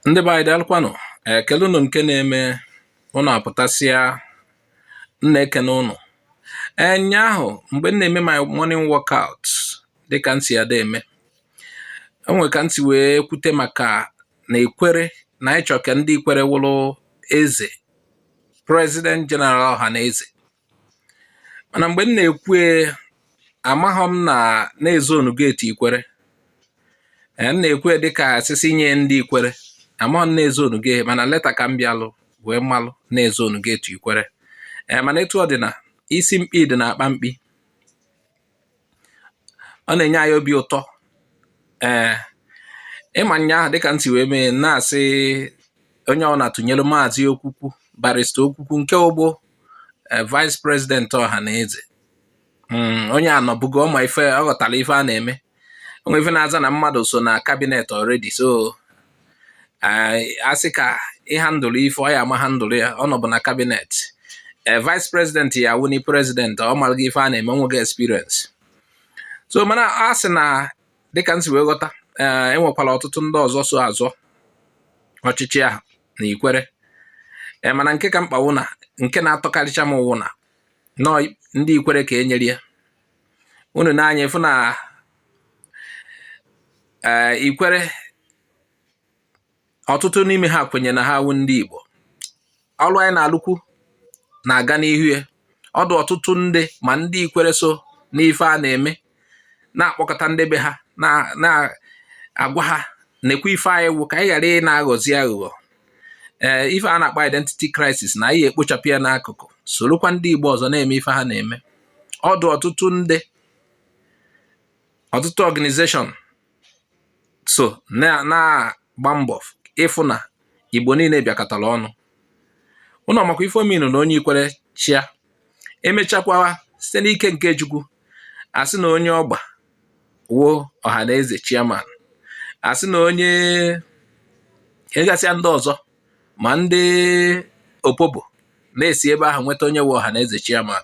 ndị be anyị daalụkwanụ ekele ụnụ nke na-eme ụnụ apụtasịa m na-ekene ụnụ ee nyaahụ mgbe m na-eme my morning workout dịka m si ada eme onwe ka m si wee kwute maka na ikwere na anyị chọ ka ndị ikwere wụrụ eze president general ọha na eze mana mgbe m na-ekwu amaghị m na e zonugo ya to ikwere m na-ekwu dịka asị sị nye ndị ikwere amaghị m na e zonugo ya mana later ka m bịalụ wee malụ na e zonugo ya to ikwere ee mana etu ọ dị na isi mkpi dị na akpa mkpi ọ na-enye anyị obi ụtọ ee ịma nyaahụ dịka m si wee mee na-asị onye ọbụla tụnyere maazị okwukwu barista okwukwu nke wụbu e, vice president ọha na eze hmm, onye a nọbugo ọ ma ife ọ ghọtara ife a na-eme onwe ife na-aza na mmadụ so na kabinet already so asị ka ị handle ife ọ ya-ama handle ya ọ nọbu na kabinet ee eh, vice president ya wuni president ọ marago ife a na-eme o nwego experience so mana a sị na dịka m si wee ghọta eh, enwekwara ọtụtụ ndị ọzọ so azọ ọchịchị ahụ na ikwere ee eh, mana nke ka mkpa wụ na nke na-atọkarịcha m wụ na ọ ndị ikwere ka e nyere ya unu na-anya ịfụ na eh, ikwere ọtụtụ n'ime ha kwenye na ha wụ ndị Igbo ọrụ anyị na-alụkwu na-aga n'ihu ya ọ dụ ọtụtụ ndị ma ndị ikwere so n'ife a na-eme na-akpọkọta ndị be ha na-agwa ha nekwe ife anyị wụ ka anyị ghara ị na-aghọzi aghụghọ ee eh, ife a na-akpọ identity crisis na anyị ekpochapụ ya n'akụkụ sorokwa ndị Igbo ọzọ na-eme ife ha na-eme ọ dụ ọtụtụ ndị ọtụtụ organization so na-agba mbọ ịfụ na igbo niile bịakọtara ọnụ ụnụ makwa ife ọ mean na onye ikwere chịa emechakwaa site n'ike nke chukwu asị na onye ọgba wụ ọha na eze chairman asị na onye egasịa ndị ọzọ ma ndị opobo na-esi ebe ahụ nweta onye wụ ọha na eze chairman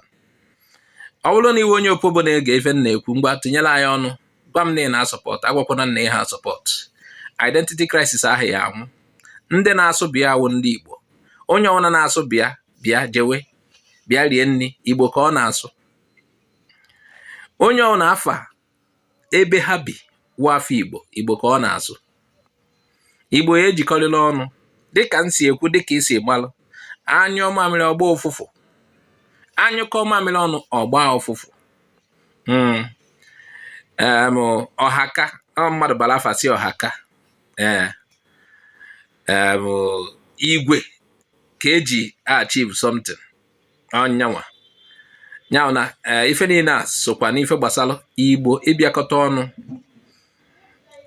ọ bụrụ na ị wụ onye opobo na-ege ife m na-ekwu ngwa tinyere anyị ọnụ gwa m na ị na-asupport agwakwana m na ị ha asupport identity crisis ahụ ya anwụ ndị na-asụ bịa wụ ndị igbo onye ọbụla na-asụ bịa bịa jewe bịa rie nri igbo ka ọ na-asụ onye ọbụla afa ebe ha bi wụ afọ igbo igbo ka ọ na-asụ igbo ya ejikọrịla ọnụ dịka m si ekwu dịka isi gbalụ a nyụọ mamịrị ọ gbaa ụfụfụ a nyụkọọ mamịrị ọnụ ọ gbaa ụfụfụ hmm. ọhaka mmadụ bara afa sị ọhaka ee igwe ka eji achieve something ọ nyanwa nya wụ na eh, ife niile a sokwa n'ife gbasara igbo ịbịakọta ọnụ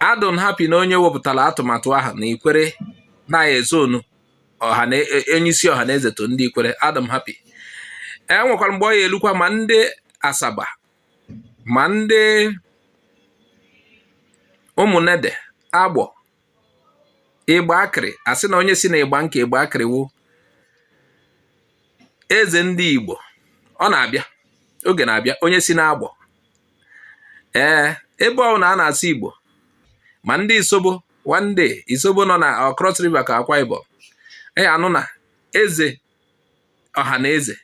adụ m happy na onye wepụtara atụmatụ ahụ na ikwere na ezonu onyeisi ọha na eze to ndị ikwere adụ m happy enwekwara mgbe ọ ya elukwa ma ndị asaba ma ndị ụmụnede agbọ igbo akịrị a sị na onye si na igbanke igbo akịrị wụ eze ndị Igbo ọ na-abịa oge na-abịa onye si n'agbọ ee ebe ọ wụna a na-asụ Igbo ma ndị Isobo one day Isobo nọ na uh, Cross River ka Akwa Ibom ya anụ na eze ọha na eze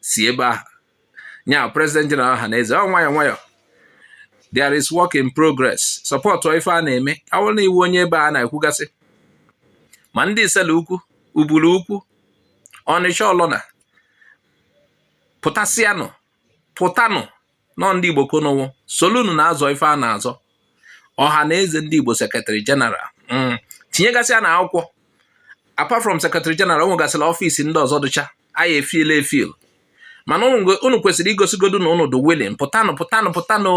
si ebe ahụ nya president general ọha na eze ọ nwayọ nwayọ there is work in progress support ife a na-eme a wụrụ na ị wụ onye ebe a na-ekwugasị ma ndị isele ukwu ubulu ukwu ọnịcha ọlọna pụtasịanụ pụtanụ nọ ndị Igbo ka unu wụ solunu na-azọ ife a na-azọ ọha na eze ndị Igbo secretary general mm. tinyegasịanụ akwụkwọ apart from secretary general o nwegasịrị office ndị ọzọ dụcha anyị efiela efil mana unu kwesịrị igosigodu na unu dị willing pụtanụ pụtanụ pụtanụ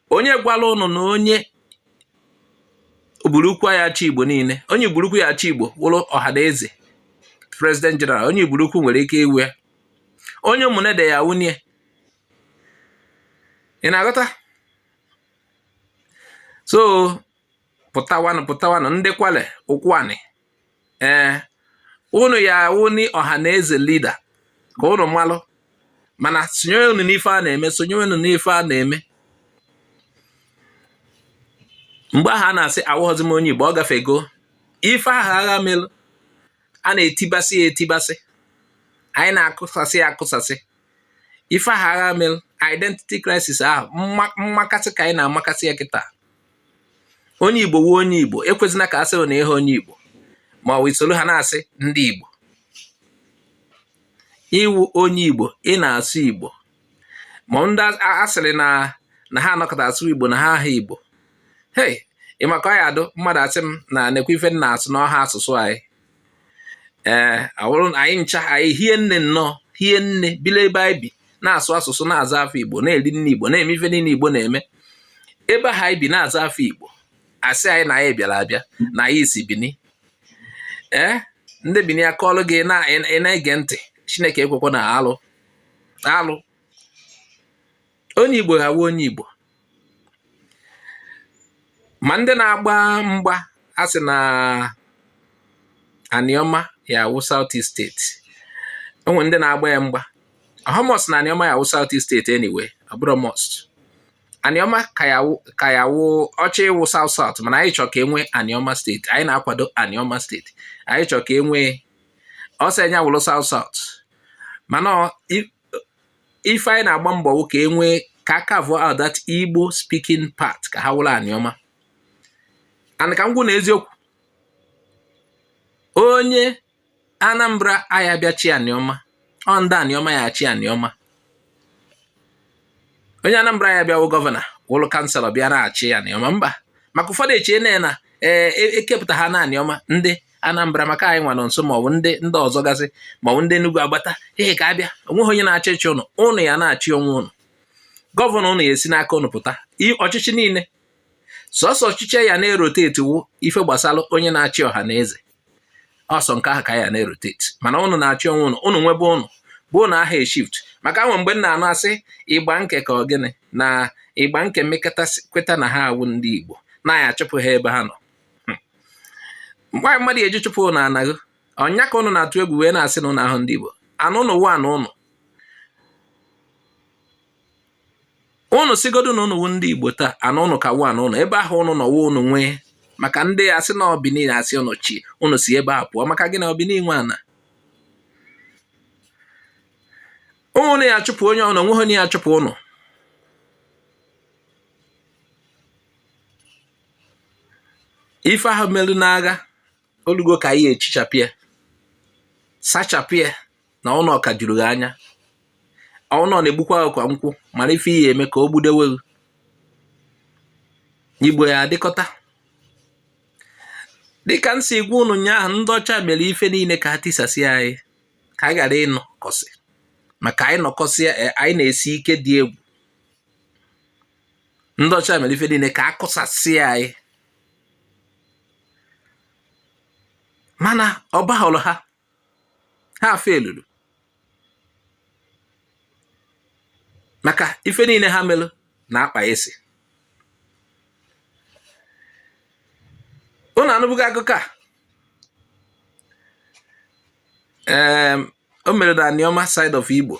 onye gwala unu na onye uburukwu ya achị igbo niile onye uburukwu ya achị igbo wụrụ ọha na eze president general onye uburukwu nwere ike ịwụ onye ụmụnede ya awụni ya ị na-aghọta so pụtawanụ pụtawanụ ndị kwale ụkwụanị ee unu ya awụni ọha na eze leader ka unu malụ mana sonyewenụ n'ife a na-eme sonyewenụ n'ife a na-eme mgbe ahụ a na-asị awụghọzi m onye igbo ọ gafego ife ahụ agha melụ a na-etibasị ya etibasị anyị na-akụsasị ya akụsasị ife ahụ agha mere identity crisis ahụ mmakasị ka anyị na-amakasị ya kịta onye igbo wụ onye igbo ekwezina ka a sị na ihe onye igbo ma ọ wụ i soro ha na-asị ndị igbo ị wụ onye igbo ị na-asụ igbo ma ndị asịrị na na ha anọkọta asụ igbo na ha aha igbo hei ịmaka ya adụ mmadụ asị m na nekwa ife na-asụ n'ọha asụsụ anyị ee awụrụ anyị ncha anyị hie nne nnọọ hie nne bile ebe anyị bi na-asụ asụsụ na-aza afa igbo na-eri nni igbo na-eme ife niile igbo na-eme ebe ahụ anyị bi na-aza afa igbo a sị anyị na anyị bịara abịa na anyị si bini ee ndị bini akọọlụ gị na-ege ntị chineke ekwekwana alụ alụ onye igbo ga-awụ onye igbo ma ndị na-agba mgba a sị na aniọma ya awụ South East steeti o nwe ndị na-agba ya mgba ọ họ must na aniọma ya awụ South East steeti anyway ọ bụrọ must aniọma ka ya wụ ọ chọ ịwụ South South mana anyị chọ ka e nwe aniọma steeti anyị na-akwado aniọma steeti anyị chọ ka e nwe ọ sọ nya wụrụ South South mana ife anyị na-agba mbọ wụ ka e nwee ka a carve out that Igbo speaking part ka ha wụrụ aniọma and ka m gwa unu eziokwu onye Anambra aya bịa chị aniọma ọ ndị aniọma ya achị aniọma onye Anambra ya bịa wụ gọvanọ wụlụ kanselọ bịa na-achị aniọma mba maka ụfọdụ eche na na ee e, e kepụta ha na aniọma ndị Anambra maka anyị nwa nọ nso maọbụ ndị ndị ọzọ gasị maọbụ ndị Enugu agbata ihe ka abịa o nweghị onye na-achọ ịchị ụnụ ụnụ ya na-achị onwe ụnụ gọvanọ ụnụ ya esi n'aka ụnụ pụta ọchịchị niile sọsọ ọchịchị ya na-eroteti wụ ife gbasara onye na-achị ọha na eze ọ sọ nke ahụ ka ya na-eroteti mana ụnụ na-achị onwe ụnụ ụnụ nwe ebe ụnụ bi ụnụ aha eshift maka o nwe mgbe m na-anụ asị Igbanke ka ọ gịnị na Igbanke mekata kweta na ha awụ ndị Igbo na a ya achụpụ ha ebe ha nọ hmm. mgbe mmadụ eji chụpụ ụnụ n'ana ahụ onye ka ụnụ na-atụ egwu wee na-asị na ụnụ ahọ ndị Igbo ana ụnụ wụ ana ụnụ ụnụ sịgodu na ụnụ wụ ndị igbo taa ana ụnụ ka wụ ana ụnụ ebe ahụ ụnụ nọ wụ ụnụ nwee maka ndị asị na bini asị ụnụ chi ụnụ si ebe a pụọ maka gị na ọ bini nwe ana ụnụ ya chụpụ onye ọnụ o nweghị onye ya achụpụ ụnụ ife ahụ melụ n'agha olugo ka anyị echichapụ ya sachapụ ya na ụlọ ka juru gị anya ụlọ na-egbukwa ọkwa nkwụ mara ife ị ya eme ka o gbudewe gị igbo ya adịkọta dịka m si gwa unu ụnyaahụ ndị ọcha mere ife niile ka ha tisasị anyị ka a ghara ịnọkọsị maka anyị nọkọsịa eh, anyị na-esi ike dị egwu ndị ọcha mere ife niile ka a kụsasị anyị mana ọ bahụrụ ha ha feluru maka ife niile ha melụ na akpa esi unu anụbụghị akụkọ a ee o mere na anioma side of igbo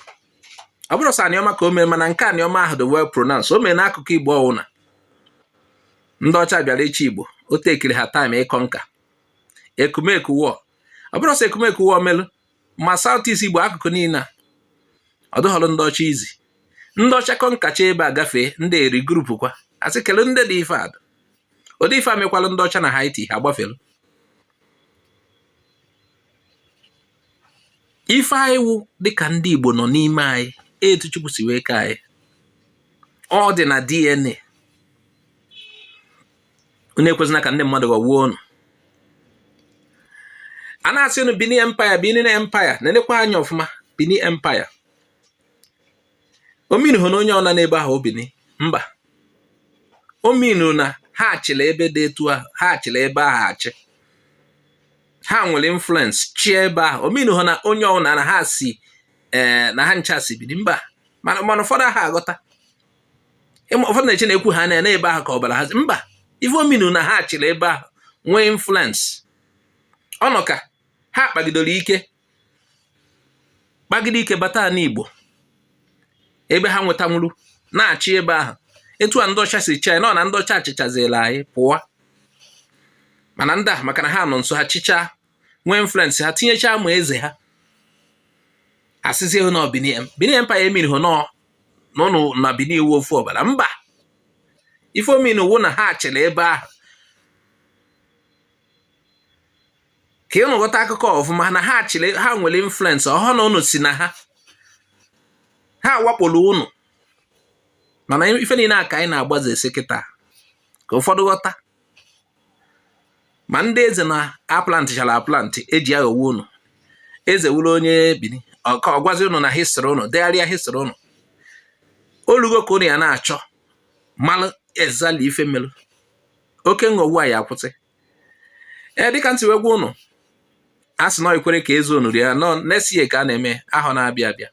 ọ bụrọ sọ anioma ka o mere mana nke anioma ahụ dị well pronounced o mere n'akụkụ igbo ọwụna ndị ọcha bịara ịchị igbo o takeiri ha time ịconquer ekumeku war ọ bụrọ sọ ekumeku war melụ ma south east igbo akụkụ niile a ọ dụhọrọ ndị ọcha easy ndị ọcha conquerchaa ebe a gafee ndị e regroupukwa a sị kele ndị dị ife a dụ ụdị ife a mekwalụ ndị ọcha na haiti ha gbafere ife anyị wụ dịka ndị igbo nọ n'ime anyị etu chukwu si wee kee anyị ọ dị na dna unu ekwezina ka ndị mmadụ ghọgbuo unu a na-asị unu bini empire benin empire nenekwa anya ọfụma bini empire o meanụhọ na onye ọwụna n'ebe ahụ wụ bini mba o meanụ na ha chịlị ebe dị etu ahụ ha chịlị ebe ahụ achị ha nwere influence chịa ebe ahụ o meanụhọ na onye ọwụna na ha si ee eh, na ha ncha si bini mba mana ụfọdụ aha aghọta ụfọdụ na-eche na ekwu ha na ebe ahụ ka ọbara ha si mba ife o meanụ na ha chịrị ebe ahụ nwee influence ọ nọ ka ha kpagidoro ike kpagide ike bata n'Igbo ebe ha nwetanwuru na-achị ebe ahụ etu a ndị ọcha si chịa nọ na ndị ọcha achịchazila anyị pụọ mana ndị a maka na ha nọ nso ha chịchaa nwee influence ha tinyechaa ma eze ha asịzie ha na ọ Benin Benin Empire o meanụhọ na na unu na bini wụ ofu ọbara mba ife o meanụ wụ na ha chịrị ebe ahụ ka unu ghọta akụkọ ọfụma na ha chịrị ha nwere influence ọ wụhọ na ụnụ si na ha ha wakporo ụnụ mana ife niile a ka anyị na-agbaze esi kịta ka ụfọdụ ghọta ma ndị eze na a plantịchara aplant eji aghọwu unu eze wụrụ onye bini ka ọ gwazi unu na history unu degharịa history unu o lugo ka unu ya na-achọ malụ exactly ife melụ oke nghọgbu a ya akwụsị ee dịka m si wee gwa unu a sị na e kwere ka eze nri a nọ nesie ka a na-eme ahọ na-abịa abịa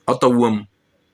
ọ tọgbuo m